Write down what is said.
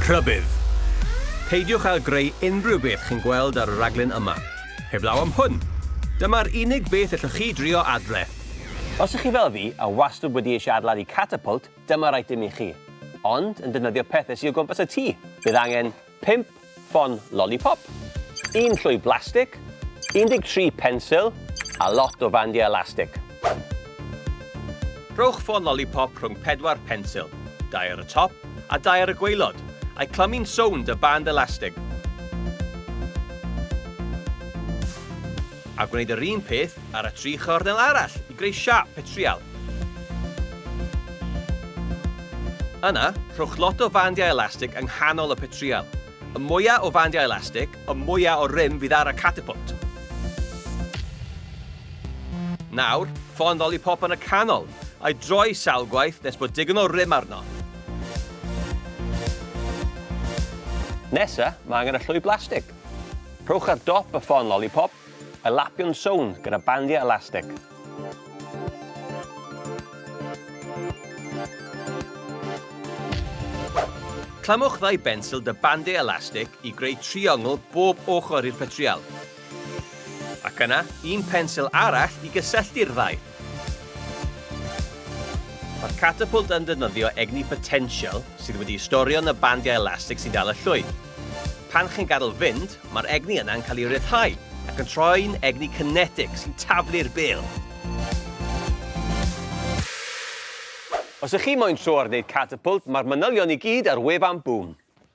Rhybudd! Peidiwch â greu unrhyw beth chi'n gweld ar y raglen yma, heblaw am hwn! Dyma'r unig beth ellwch chi drio adre. Os ych chi fel fi, a wastwd wedi eisiau adeiladu catapult, dyma'r eitem i chi. Ond, yn defnyddio pethe sy o gwmpas y tŷ, bydd angen pump Ffon lolipop, un llwy blastig, 13 pensil a lot o fandiau elastig. Rhowch ffon lolipop rhwng pedwar pensil, dau ar y top a dau ar y gwaelod, a'i clymu'n sownd â band elastig. A gwneud yr un peth ar y tri chornel arall i greu siâp petrial. Yna, rhowch lot o fandiau elastig yng nghanol y petrial. Y mwyaf o fandiau elastig, y mwyaf o rym fydd ar y catapult. Nawr, ffon lollipop yn y canol, a'i droi sawl gwaith nes bod digon o rym arno. Nesa, mae angen y llwy blastig. Rhowch ar dop y ffon lollipop Y Lapion Sownd gyda bandiau elastig. Clamwch ddau bensil da bandiau elastig i greu triongl bob ochr i'r petrial, ac yna un pensil arall i gysylltu'r ddau. Mae'r catapult yn defnyddio egni potential sydd wedi'i storio yn y bandiau elastig sy'n dal y llwyn. Pan chi'n gadael fynd, mae'r egni yna yn cael ei ryddhau ac yn troi'n egni kinetic sy'n taflu'r bêl. Os ych chi moyn tro ar wneud catapult, mae'r manylion i gyd ar wefan Boom.